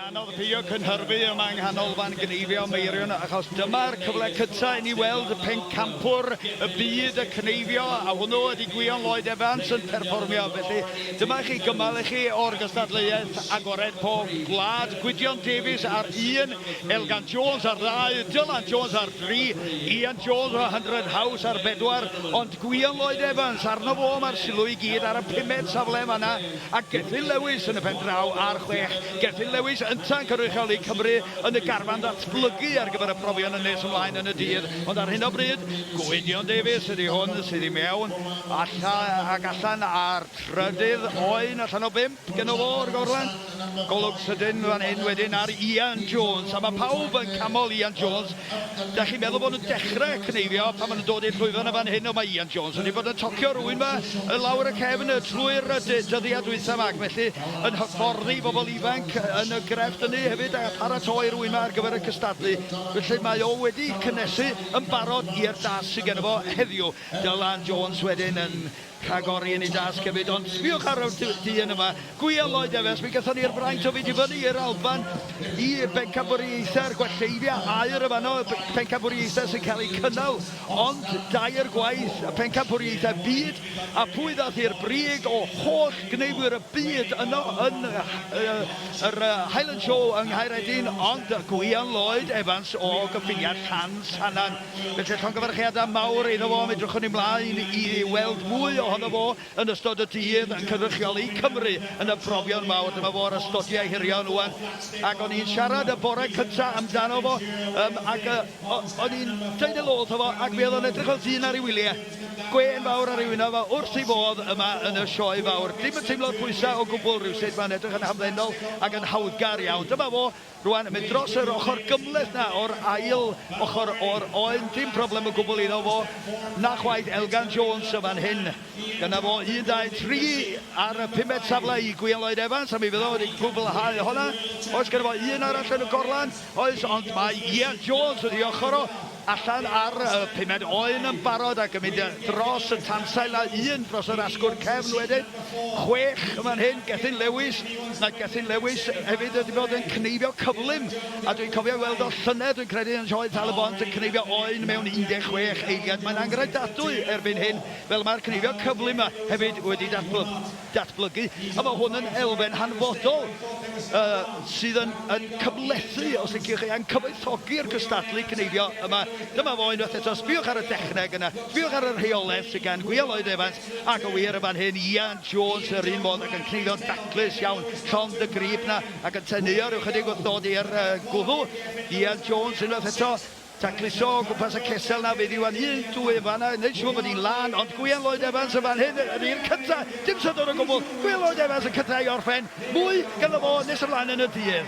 anodd pio cynhyrfu yma yng nghanolfan gneifio Meirion achos dyma'r cyfle cyta i ni weld y pencampwr y byd y cneifio a hwnnw ydy Gwion Lloyd Evans yn perfformio felly dyma chi gymal i chi o'r gystadleuaeth agored pob gwlad Gwydion Davies ar un Elgan Jones ar ddau Dylan Jones ar dri Ian Jones o 100 House ar bedwar ond Gwion Lloyd Evans, arno fo mae'r sylw i gyd ar y pumed safle yn fan'na, a Gethin Lewis yn y pen draw ar chwech. Gethin Lewis ynta'n cynrychioli Cymru yn y garfan ddatblygu ar gyfer y profion yn nes ymlaen yn y dydd, ond ar hyn o bryd, Gwydion Davies ydi hwn sydd i mewn, allan, ac allan ar trydydd oen allan o bump. Dyna fo o'r gorlan. Golwg sydyn fan hyn wedyn ar Ian Jones, a mae pawb yn camol Ian Jones. Da chi'n meddwl bod nhw'n dechrau cneifio pan maen nhw'n dod i'r llwyfan yn fan hyn, ond mae Ian Jones wedi bod yn tocio rhywun fa y lawr y cefn y trwy'r dyddiau dwytha yma, ac felly yn hyfforddi bobl ifanc yn y grefft ynny hefyd a pharatoi rhywun yma ar gyfer y cystadlu. Felly mae o wedi cynnesu yn barod i'r dasg sydd gen fo heddiw. Dylan Jones wedyn yn Rhagori yn ei dasg hefyd, ond sbiwch ar y dyn yma, Gwiel Lloyd Evans, mi gaethon ni'r fraint o fynd i fyny i'r Alban i bencampwriaethau'r Gwelleiddiau aur yn fanno, pencampwriaethau sy'n cael eu cynnal ond dair gwaith, y pencampwriaethau byd, a phwy ddaeth i'r brig o holl gneifwyr y byd yno yn yr Highland Show yng Nghaeredin ond Gwiel Lloyd Evans o gyffiniad Llan Sannan. Felly, llongyfarchiadau mawr iddo fo, mi edrychwn i mlaen i weld mwy ohono fo yn ystod y dydd yn cynrychioli Cymru yn y profion mawr. Dyma fo ar y stotiau hirion ŵan, ac o'n i'n siarad y bore cynta amdano fo, um, ac uh, o'n i'n dweud elo wrtho fo, ac mi oedd o'n edrych fel dyn ar ei wyliau, gwên fawr ar ei wynaf, a wrth ei fodd yma yn y sioe fawr. Dim yn teimlo'r pwysau o gwbl rhywsut, mae'n edrych yn hamddenol ac yn hawddgar iawn. Dyma fo, Rwan, yn mynd dros yr ochr gymhleth 'na o'r ail ochr o'r oen. Dim problem o gwbl iddo fo. 'Na chwaith Elgan Jones yn fan hyn. Dyna fo, un, dau, tri ar y pumed safle i Gwion Lloyd Evans, a mi fydd o wedi cwblhau honna. Oes genna fo un arall yn y gorlan? Oes, ond mae Ian Jones wrth 'i ochr o. allan ar y pumed oen yn barod ac yn mynd dros y tansail a un dros yr asgwrn cefn wedyn. Chwech yn fan hyn, Gethin Lewis. Mae Gethin Lewis hefyd wedi bod yn cneifio cyflym a dwi'n cofio ei weld o llynedd dwi'n credu yn Sioe Tal-y-bont yn cneifio oen mewn 16 eiliad. Mae'n anghredadwy erbyn hyn fel mae'r cneifio cyflym 'ma hefyd wedi datblygu. datblygu, a mae hwn yn elfen hanfodol uh, sydd yn, yn cymlethu, os liciwch chi, a'n cyfoethogi'r cystadlu cneifio yma. Dyma fo unwaith eto, sbiwch ar y dechneg yna, sbiwch ar y rheolaeth sydd gan Gwia Lloyd Evans, ac o wir y fan hyn, Ian Jones yr un modd ac yn cneifio'n daclus iawn, llond y grib na, ac yn teneuo rhyw chydig wrth ddod i'r uh, gwddw. Ian Jones unwaith eto, Tacluso o gwmpas y cesel 'na fydd Iwan Huws, Duw ef fan'na, wneud siŵr bod hi'n lân, ond Gwion Lloyd Evans yn fan hyn, yn i'r cynta', dim syndod o gwbl, Gwion Lloyd Evans yn cynta' i orffen, mwy ganddo fo nes ymlaen yn y dydd.